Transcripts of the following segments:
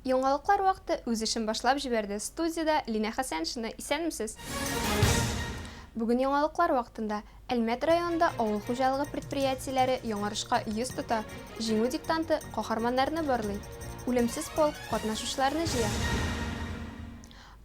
Яңалыклар вакыты үз эшен башлап җибәрде. Студиядә Линә Хәсәншина. Исәнмесез! Бүген яңалыклар вакытында. Әлмәт районында авыл хуҗалыгы предприятиеләре яңарышка йөз тота, Җиңү диктанты каһарманнарны барлый, Үлемсез полк катнашучыларны җыя.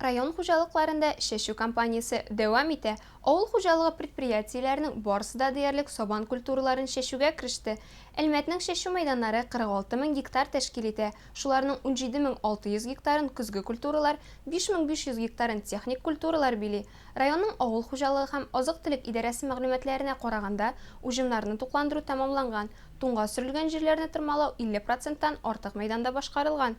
Район хуҗалыкларында чәчү кампаниясе дәвам итә, авыл хуҗалыгы предприятиеләренең барысы да диярлек сабан культураларын чәчүгә кереште. Әлмәтнең чәчү мәйданнары 46 мең гектар тәшкил итә, шуларның 17 мең 600 гектарын көзге культуралар, 5 мең 500 гектарын техник культуралар били. Районның авыл хуҗалыгы һәм азык-төлек идарәсе мәгълүматларына караганда, уҗымнарны тукландыру тәмамланган, туңга сөрелгән җирләрне тырмалау 50 проценттан артык мәйданда башкарылган.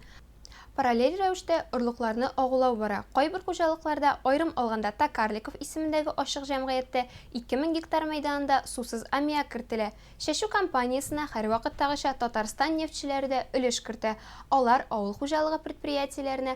Параллель рәвештә орлыкларны агулау бара, кайбер хуҗалыкларда, аерым алганда Токарликов исемендәге ачык җәмгыятьтә, 2000 гектар мәйданында сусыз аммиак кертелә. Чәчү кампаниясенә һәрвакыттагыча Татарстан нефтьчеләре дә өлеш кертә, алар авыл хуҗалыгы предприятиеләренә,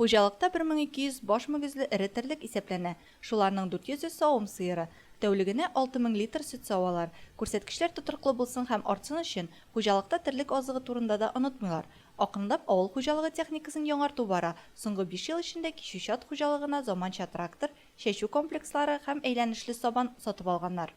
Хуҗалыкта 1200 баш мөгезле эре терлек исәпләнә, шуларның 400-е савым сыеры. Тәүлегенә 6000 литр сөт савалар. Күрсәткечләр тотрыклы булсын һәм артсын өчен, хуҗалыкта терлек азыгы турында да онытмыйлар. Акрынлап авыл хуҗалыгы техникасын яңарту бара, соңгы биш ел эчендә кичү-чат хуҗалыгына заманча трактор, чәчү комплекслары һәм әйләнешле сабан сатып алганнар.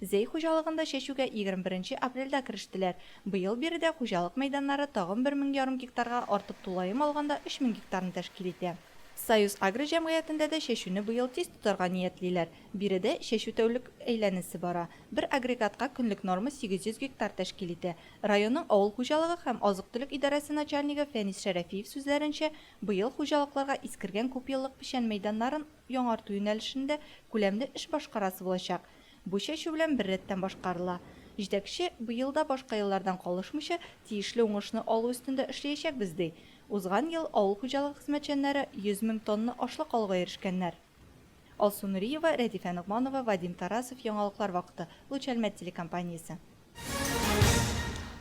Зәй хуҗалыгында чәчүгә егерме беренче апрельдә керештеләр. Быел биредә хуҗалык мәйданнары тагын бер мең ярым гектарга артып тулаем алганда өч мең гектарны тәшкил итә. Союз-Агро җәмгыятендә дә чәчүне быел тиз тотарга ниятлиләр. Биредә чәчү тәүлек әйләнесе бара. Бер агрегатка көнлек норма сигез йөз гектар тәшкил итә. Районның авыл хуҗалыгы һәм азык-төлек идарәсе начальнигы Фәнис Шәрәфиев сүзләренчә, быел хуҗалыкларга искергән күпьеллык печән мәйданнарын, яңарту юнәлешендә күләмле эш башкарасы булачак. Бу чәчү белән беррәттән башкарыла. Җитәкче, быел да башка еллардан калышмыйча, тиешле уңышны алу өстендә эшлиячәкбез, ди. Узган ел авыл хуҗалыгы хезмәтчәннәре 100 мең тонна ашлык алуга ирешкәннәр. Алсу Нуриева, Рәдифә Ногманова, Вадим Тарасов, Яңалыклар вакыты, Луч Әлмәт телекомпаниясе.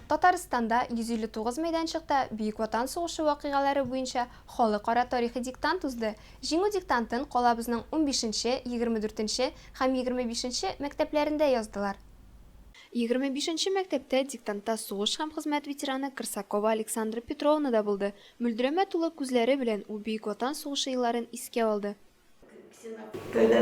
Татарстанда 159 мәйданчыкта Бөек Ватан сугышы вакыйгалары буенча халыкара тарихи диктант узды. Җиңү диктантын калабызның унбишенче, егермедүртенче һәм егермебишенче мәктәпләрендә яздылар. Егерме бишенче мәктәптә диктантта сугыш һәм хезмәт ветераны Крсакова Александра Петровна да булды. Мөлдерәмә тулы күзләре белән ул Бөек Ватан сугышы елларын искә алды.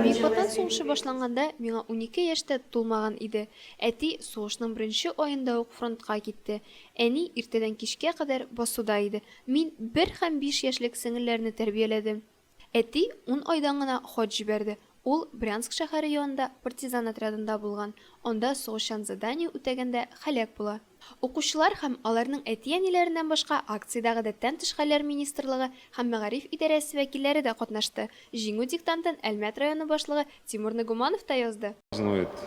Мисбаттан сугыш эше башланганда, миңа унике яшь тә тулмаган иде. Әти сугышның беренче аенда ук фронтка китте. Әни иртәдән кичкә кадәр басуда иде. Мин бер һәм биш яшьлек сеңелләрне тәрбияләдем. Әти ун айдан гына хаҗ җибәрде. Ул Брянск шәһәре янында партизан отрядында булган, анда сугышчан задание үтәгәндә һәлак була. Укучылар һәм аларның әти-әниләреннән башка акциядә Гадәттән тыш хәлләр министрлыгы һәм Мәгариф идарәсе вәкилләре дә катнашты. Җиңү диктантын Әлмәт районы башлыгы Тимур Нагуманов та язды.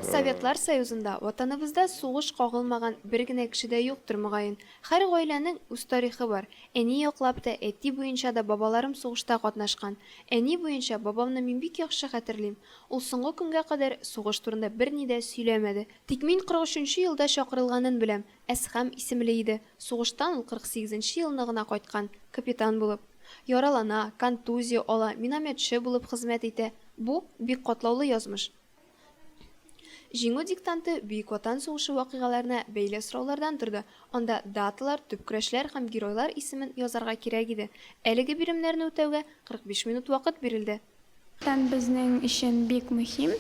Советлар Союзында, Ватаныбызда сугыш кагылмаган бер генә кеше дә юктыр, мөгаен. Һәр гаиләнең үз тарихы бар. Әни яклап та, әти буенча да бабаларым сугышта катнашкан. Әни буенча бабамны мин бик яхшы хәтерлим. Ул соңгы көнгә кадәр сугыш турында берни дә сөйләмәде. Тик мин кырык өченче елда чакырылганын беләм, Әсхәм исемле иде, сугыштан ул кырык сигезенче елны гына кайткан, капитан булып. Яралана, контузия ала, минометчы булып хезмәт итә. Бу, бик катлаулы язмыш. Җиңү диктанты Бөек Ватан сугышы вакыйгаларына бәйле сораулардан торды, анда даталар, төп көрәшләр һәм геройлар исемен язарга кирәк иде. Әлеге биремнәрне үтәүгә 45 минут вакыт бирелде. Фән безнең өчен бик мөһим.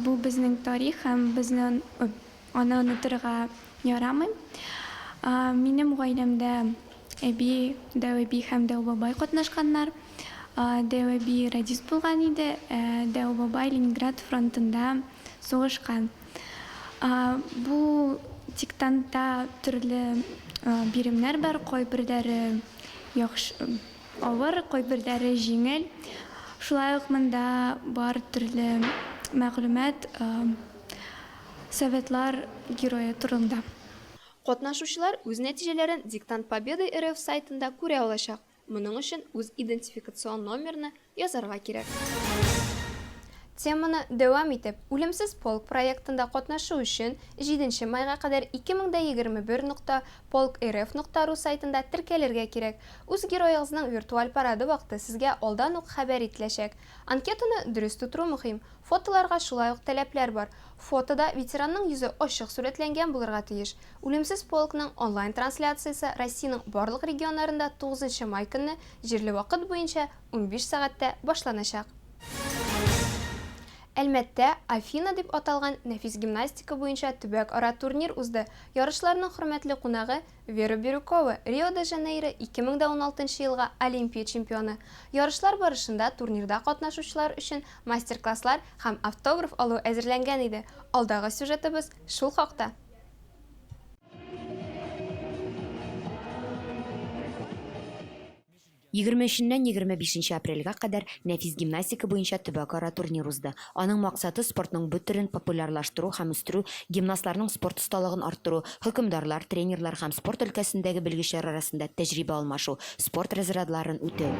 Бу безнең тарих һәм безне аны онытырга ярамый. Минем гаиләмдә әби, дәүәби һәм дәүбабай катнашканнар. Дәүәби радист булган иде, ә дәүбабай Ленинград фронтында сугышкан. Бу диктантта төрле биремнәр бар, кайберләре яхшы, Авыр, кайберләре җиңел. Шулай ук монда бар төрле мәгълүмат Советлар Герое турында. Катнашучылар үз нәтиҗәләрен Диктант Победы РФ сайтында күрә алачак. Моның өчен үз идентификацион номерны язарга кирәк. Теманы дәвам итеп, Үлемсез полк проектында катнашу өчен, җиденче майга кадәр 2021 нокта Polk.rf нокта ру сайтында теркәлергә кирәк. Үз героегызның виртуаль парады вакыты сезгә алдан ук хәбәр ителәчәк. Анкетаны дөрес тутыру мөһим. Фотоларга шулай ук таләпләр бар. Фотода ветеранның йөзе ачык сурәтләнгән булырга тиеш. Үлемсез полкның онлайн-трансляциясе Россиянең барлык регионнарында тугызынчы май көнне, җирле вакыт буенча, унбиш сәгатьтә башланачак. Әлмәттә Афина дип аталган нәфис гимнастика буенча төбәкара турнир узды. Ярышларның хөрмәтле кунагы, Вера Бирюкова, Рио-де-Жанейро 2016 нчы елга Олимпия чемпионы. Ярышлар барышында турнирда катнашучылар өчен мастер-класслар һәм автограф алу әзерләнгән иде, алдагы сюжетыбыз шул хакта. Егерме өченнән егерме бишенче апрельгә кадәр Нәфис гимнастика буенча төбәкара турнир узды. Аның максаты, спортның бу төрен популярлаштыру һәм үстерү, гимнастларның спорт осталыгын арттыру, хөкемдарлар, тренерлар һәм спорт өлкәсендәге белгечләр арасында тәҗрибә алмашу, спорт разрядларын үтү.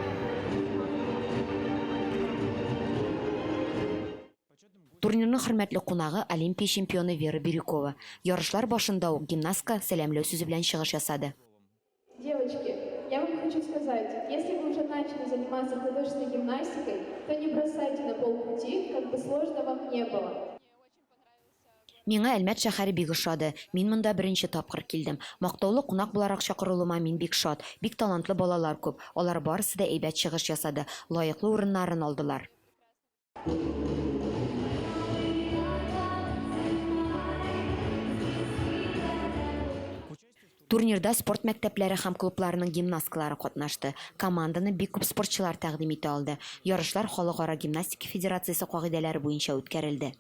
Турнирның хөрмәтле кунагы, Олимпия чемпионы Вера Бирюкова, ярышлар башында ук гимнастка сәламләү сүзе белән чыгыш ясады. Девочки, я вам хочу сказать, если вы уже начали заниматься художественной гимнастикой, то не бросайте на полпути, как бы сложно вам не было. Миңа Әлмәт шәһәре бик ошады. Мин монда беренче тапкыр килдем. Мактаулы кунак буларак чакырылуыма мин бик шат. Бик талантлы балалар күп. Алар барысы да әйбәт чыгыш ясады, лаеклы урыннарын алдылар. Турнирда спорт мәктәпләре һәм клубларының гимнасткалары катнашты. Команданы бик күп спортчылар тәкъдим итә алды. Ярышлар Халыкара гимнастика федерациясе кагыйдәләре буенча үткәрелде.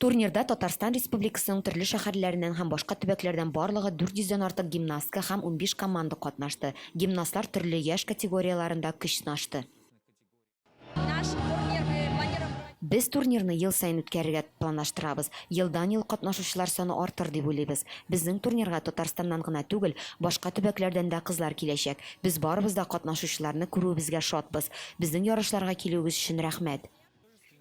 Турнирда Татарстан Республикасының төрле шәһәрләреннән һәм башка төбәкләрдән барлыгы 400 дән артык гимнастка һәм унбиш команда катнашты. Гимнастлар төрле яшь категорияләрендә көч сынашты. Без турнирны ел саен үткәрергә планлаштырабыз. Елдан-ел катнашучылар саны артыр дип уйлыйбыз. Безнең турнирга Татарстаннан гына түгел, башка төбәкләрдән дә кызлар киләчәк. Без барыбыз да катнашучыларны күрүебезгә шатбыз. Безнең ярышларга килүегез өчен рәхмәт!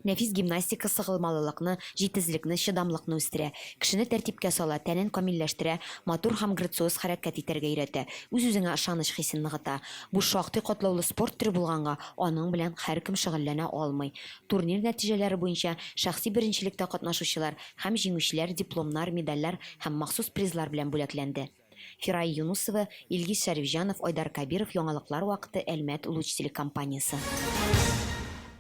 Нәфис гимнастика сыгылмалылыкны, җитезлекне, чыдамлыкны үстерә, кешене тәртипкә сала, тәнен камилләштерә, матур һәм грациоз хәрәкәт итәргә өйрәтә, үз-үзеңә ышаныч хисен ныгыта. Бу шактый катлаулы спорт төре булганга, аның белән һәркем шөгыльләнә алмый. Турнир нәтиҗәләре буенча шәхси беренчелектә катнашучылар һәм җиңүчеләр дипломнар, медальләр һәм махсус призлар белән бүләкләнде. Фирая Юнусова, Илгиз Шәрифҗанов, Айдар Кабиров Яңалыклар вакыты Әлмәт Луч телекомпаниясе.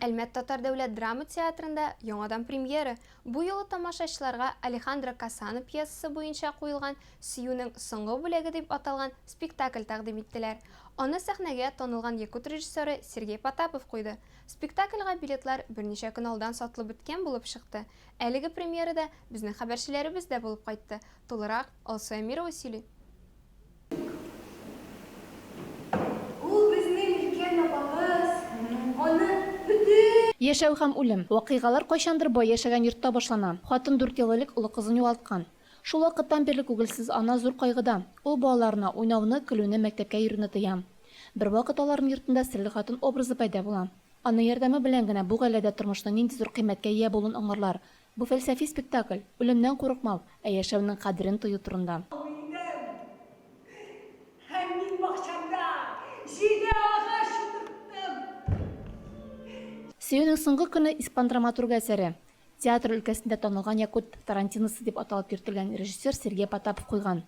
Әлмәт татар дәүләт драма театрында яңадан премьера, бу юлы тамашачыларга Алехандро Касано пьесасы буенча куелган Сөюнең соңгы бүләге дип аталган спектакль тәкъдим иттеләр. Аны сәхнәгә танылган якут режиссеры Сергей Потапов куйды. Спектакльга билетлар берничә көн алдан сатылып беткән булып чыкты. Әлеге премьерада безнең хәбәрчеләребез дә булып кайтты. Тулырак Алсу Әмирова сөйли. Яшәү һәм үлем. Вакыйгалар кайчандыр бай яшәгән йортта башлана. Хатын дүрт ел элек олы кызын югалткан. Шул вакыттан бирле күгелсез ана зур кайгыда. Ул балаларына уйнауны, көлүне, мәктәпкә йөрүне тыя. Бервакыт аларның йортында серле хатын образы пәйда була. Аның ярдәме белән генә бу гаиләдә тормышның нинди зур кыйммәткә ия булуын аңларлар. Бу фәлсәфи спектакль, үлемнән курыкмау, ә яшәүнең кадерен тою турында. Абыйның һәм мин бакчамда җиде агач утырттым. Сөюнең соңгы көне испан драматургы әсәре. Театр өлкәсендә танылган якут Тарантиносы дип аталып йөртелгән режиссер Сергей Потапов куйган.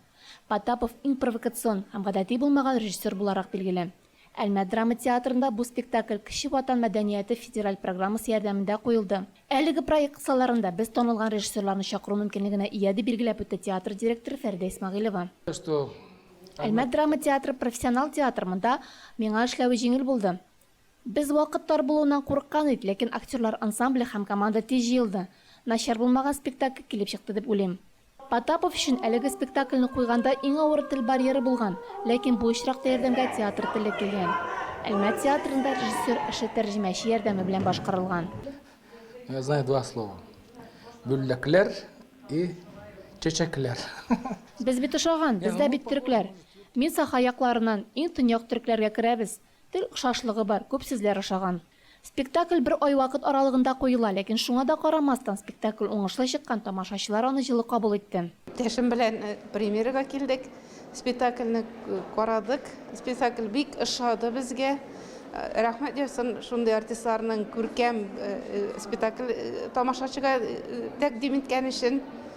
Потапов иң провокацион һәм гадәти булмаган режиссер буларак билгеле. Әлмәт драма театрында бу спектакль Кече Ватан мәдәнияте федераль программасы ярдәмендә куелды. Әлеге проект кысаларында без танылган режиссерларны чакыру мөмкинлегенә ия, дип билгеләп үтте театр директоры Фәридә Исмәгыйлева. Әлмәт драма театры профессионал театр, монда миңа эшләве җиңел булды. Без вакыт тар булуыннан курыккан ид, ләкин актерлар ансамбле һәм команда тиз җыелды. Начар булмаган спектакль килеп чыкты дип уйлыйм. Потапов өчен әлеге спектакльне куйганда иң авыры тел барьеры булган, ләкин бу очракта ярдәмгә театр теле килгән. Әлмәт театрында режиссер эше тәрҗемәче ярдәме белән башкарылган. Я знаю два слова. Гөлләкләр и чәчәкләр. Без бит ошаган, без дә бит төрекләр. Мин Саха якларыннан, иң төньяк төрекләргә керәбез. Тел охшашлыгы бар, күп сүзләр ошаган. Спектакль бер ай вакыт аралыгында куела, ләкин шуңа да карамастан, спектакль уңышлы чыккан, тамашачылар аны җылы кабул итте. Иптәшем белән премьерага килдек, спектакльне карадык. Спектакль бик ошады безгә. Рәхмәт яусын шундый артистларның күркәм спектакль тамашачыга тәкъдим иткән өчен.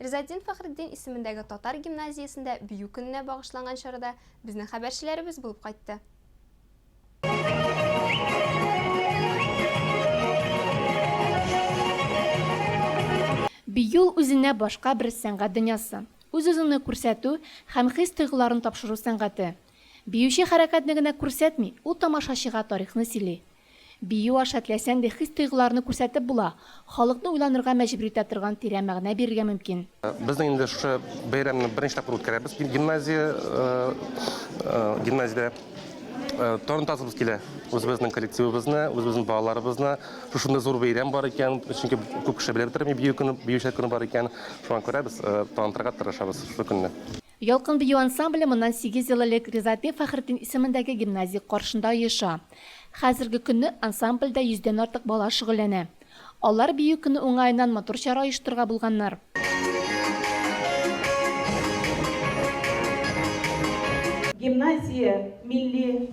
Ризаэтдин Фәхретдин исемендәге татар гимназиясендә бию көненә багышланган чарада безнең хәбәрчеләребез булып кайтты. Бию ул үзенә башка бер сәнгать дөньясы, үз-үзеңне күрсәтү һәм хис-тойгыларны тапшыру сәнгате. Биюче хәрәкәтне генә күрсәтми, ул тамашачыга тарихны сөйли, Бию аша теләсәң дә хис-тойгыларны күрсәтеп була, халыкны уйланырга мәҗбүр итә торган тирән мәгънә бирергә мөмкин. Без инде шушы бәйрәмне беренче тапкыр үткәрәбез гимназия, гимназиядә. Танытасыбыз килә үзебезнең коллективыбызны, үзебезнең балаларыбызны. Шушындый зур бәйрәм бар икән, чөнки күп кеше белеп тора бит, бию көне, биючеләр көне бар икән. Шуңа күрә без танытырга тырышабыз шушы көнне. Ялкын бию ансамбле моннан сигез ел элек Ризаэддин Фәхретдин исемендәге гимназия каршында оеша. Хәзерге көнне ансамбльдә йөздән артык бала шөгыльләнә. Алар бию көне уңаеннан матур чара оештырырга булганнар. Гимназия милли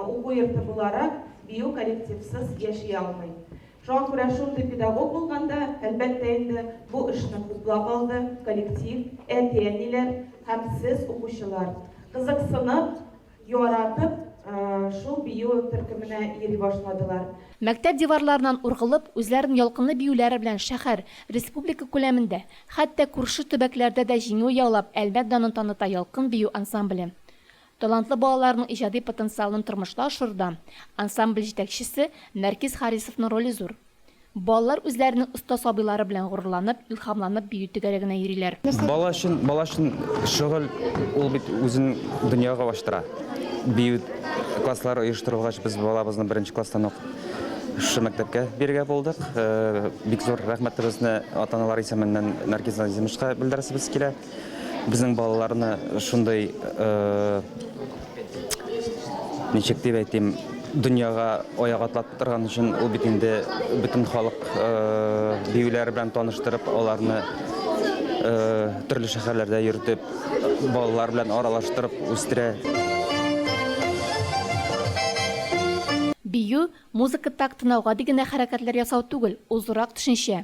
уку йорты буларак, бию коллективсыз яши алмый. Шуңа күрә шундый педагог булганда, әлбәттә инде, бу эшне хуплап алды коллектив, әти-әниләр һәм сез, укучылар. Кызыксынып, яратып шул бию төркеменә йөри башладылар. Мәктәп диварларыннан ургылып, үзләрен ялкынлы биюләре белән шәһәр, республика күләмендә, хәтта күрше төбәкләрдә дә җиңү яулап Әлмәт данын таныта Ялкын бию ансамбле. Талантлы балаларның иҗади потенциалын тормышта ашыруда ансамбль җитәкчесе Нәркис Харисовның роле зур. Балалар үзләренең оста сабыйлары белән горурланып, илһамланып бию түгәрәгенә йөриләр. Бала өчен, бала өчен шөгыль ул бит үзен дөньяга ачтыра. Бию класслары оештырылгач, без балабызны беренче класстан ук шушы мәктәпкә бирергә булдык. Бик зур рәхмәтебезне ата-аналар исеменнән Нәркис Назимовичка белдерәсебез килә. Безнең балаларны шундый, ничек дип әйтим, дөньяга аяк атлатып торган өчен ул бит инде бөтен халык биюләре белән таныштырып, аларны төрле шәһәрләрдә йөртеп, балалар белән аралаштырып үстерә. Бию, музыка тактына гади генә хәрәкәтләр ясау түгел, ул зуррак төшенчә.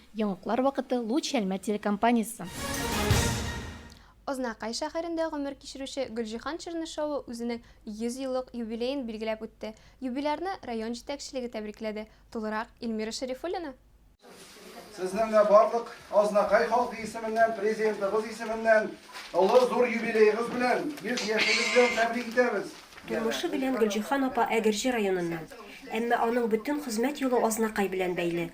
Яңаклар вакыты Луч Чәлмә телекомпаниясе. Азнакай шәһәрендә гомер кичерүче Гөлҗиһан Чернышева үзенең 100 еллык юбилеен билгеләп үтте. Юбилярны район җитәкчелеге тәбрикләде. Тулырак, Эльмира Шәрифуллина. Сезнең дә барлык Азнакай халкы исеменнән, Президентыбыз исеменнән олы зур юбилеегыз белән, 100 яшегез белән тәбрик итәбез! Тормышы белән Гөлҗиһан апа Әгерҗе районыннан, әмма аның бөтен хезмәт юлы Азнакай белән бәйле.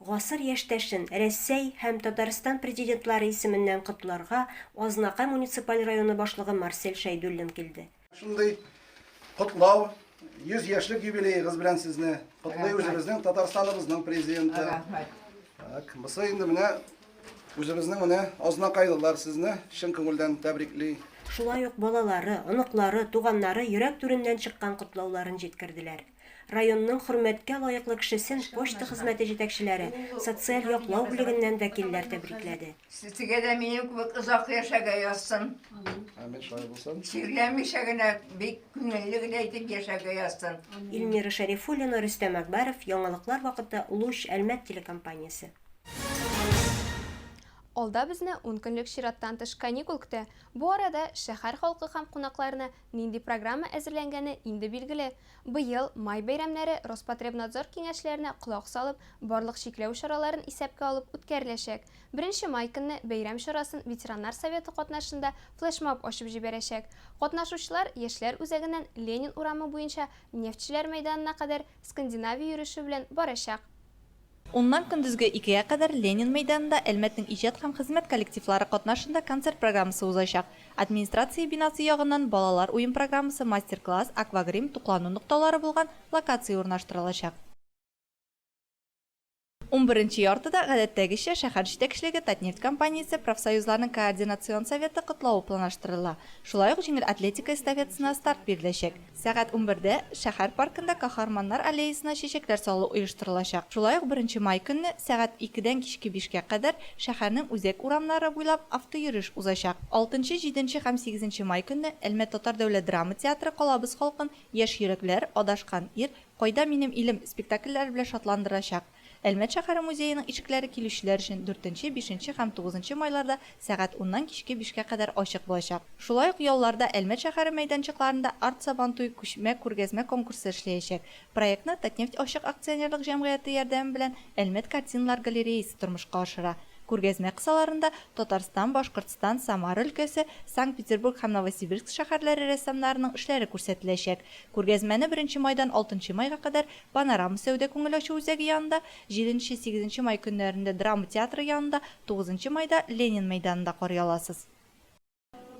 Гасыр яшьтәшен Рәсәй һәм Татарстан Президентлары исеменнән котларга Азнакай муниципаль районы башлыгы Марсель Шәйдуллин килде. Шундый котлау, 100 яшьлек юбилеегыз белән сезне котлый үзебезнең Татарстаныбызның Президенты. Рәхмәт. Так, бусы инде менә үзебезнең менә Азнакайлылар сезне чын күңелдән тәбрикли. Шулай ук балалары, оныклары, туганнары йөрәк түреннән чыккан котлауларын җиткерделәр. Районның хөрмәткә лаеклы кешесен почта хезмәте җитәкчеләре, социаль яклау бүлегеннән вәкилләр тәбрикләде. Сезгә дә минем кебек озак яшәргә язсын. Амин, шулай булсын. Чирләмичә генә, бик күңелле генә итеп яшәргә язсын. Ильмира Шәрифуллина, Рөстәм Әкбаров, яңалыклар вакыты, Луч, Әлмәт телекомпаниясе. Алда безне ун көнлек чираттан тыш каникул көтә. Бу арада шәһәр халкы һәм кунакларны Нинди программа әзерләнгәне инде билгеле. Быел, май бәйрәмнәре Роспотребнадзор киңәшләренә колак салып, барлык чикләү чараларын исәпкә алып үткәреләчәк. Беренче май көнне бәйрәм чарасын ветераннар советы катнашында флешмоб ачып җибәрәчәк. Катнашучылар Яшьләр үзәгеннән Ленин урамы буенча Нефтьчеләр мәйданына кадәр Скандинавия йөреше белән барачак. Уннан көндезге икегә кадәр Ленин мәйданында Әлмәтнең иҗат һәм хезмәт коллективлары катнашында концерт программасы узачак. Администрация бинасы ягыннан балалар уен программасы, мастер-класс, аквагрим, туклану нокталары булган локация урнаштырылачак. Унберенче яртыда, гадәттәгечә, шәһәр җитәкчелеге Татнефть компаниясе профсоюзларның координацион советы котлавы планлаштырыла. Шулай ук җиңел атлетика эстафетасына старт биреләчәк. Сәгать унбердә шәһәр паркында Каһарманнар аллеясына чәчәкләр салу оештырылачак. Шулай ук беренче май көнне сәгать икедән кичке бишкә кадәр шәһәрнең үзәк урамнары буйлап автойөреш узачак. Алтынчы, җиденче һәм сигезенче май көнне Әлмәт татар дәүләт драма театры Калабыз халкын Яшь йөрәкләр, Адашкан ир, Кайда минем илем спектакльләре белән шатландырачак. Әлмәт шәһәре музееның ишекләре килүчеләр өчен дүртенче, бишенче һәм тугызынчы майларда сәгать уннан кичке бишкә кадәр ачык булачак. Шулай ук ялларда Әлмәт шәһәре мәйданчыкларында Арт Сабантуй күчмә күргәзмә конкурсы эшләячәк. Проектны Татнефть ачык акционерлык җәмгыяте ярдәме белән Әлмәт картиналар галереясе тормышка ашыра. Күргәзмә кысаларында Татарстан, Башкортстан, Самара өлкәсе, Санкт-Петербург һәм Новосибирск шәһәрләре рәссамнарының эшләре күрсәтеләчәк. Күргәзмәне беренче майдан алтынчы майга кадәр Панорама сәүдә-күңел ачу үзәге янында, җиденче, сигезенче май көннәрендә драма театры янында, тугызынчы майда Ленин мәйданында карый аласыз.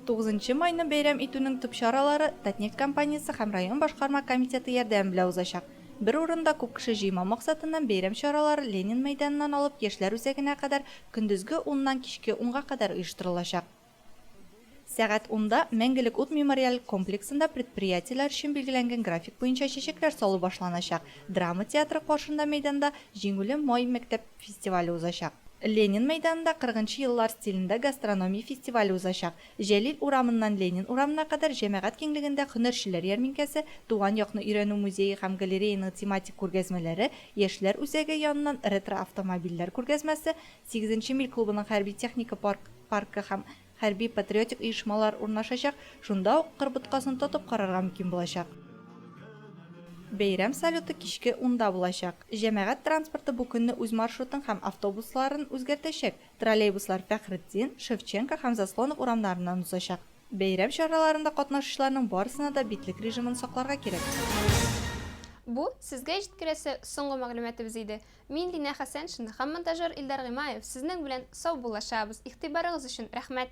Тугызынчы майны бәйрәм итүнең төп чаралары Татнефть компаниясе һәм район башкарма комитеты ярдәме белән узачак. Бер урында күп кеше җыймау максатыннан бәйрәм чаралары Ленин мәйданыннан алып Яшьләр үзәгенә кадәр көндезге уннан кичке унга кадәр оештырылачак. Сәгать унда Мәңгелек ут мемориаль комплексында предприятиеләр өчен билгеләнгән график буенча чәчәкләр салу башланачак. Драма театры каршында мәйданда Җиңүле май мәктәп фестивале узачак. Ленин мәйданында кырыгынчы еллар стилендә гастрономия фестивале узачак. Җәлил урамыннан Ленин урамына кадәр җәмәгать киңлегендә һөнәрчеләр ярминкәсе, Туган якны өйрәнү музее һәм галереяның тематик күргәзмәләре, Яшьләр үзәге яныннан ретро автомобильләр күргәзмәсе, Сигезенче миль клубының хәрби-техника парк паркы һәм хәрби-патриотик оешмалар урнашачак, шунда ук Кыр боткасын тотып карарга мөмкин булачак. Бәйрәм салюты кичке унда булачак. Җәмәгать транспорты бу көнне үз маршрутын һәм автобусларын үзгәртәчәк, троллейбуслар Фәхретдин, Шевченко һәм Заслонов урамнарыннан узачак. Бәйрәм чараларында катнашучыларның барысына да битлек режимын сакларга кирәк. Бу, сезгә җиткерәсе соңгы мәгълүматыбыз иде. Мин Динә Хәсәншина һәм монтажер Илдар Гыймаев сезнең белән саубуллашабыз, игътибарыгыз өчен рәхмәт!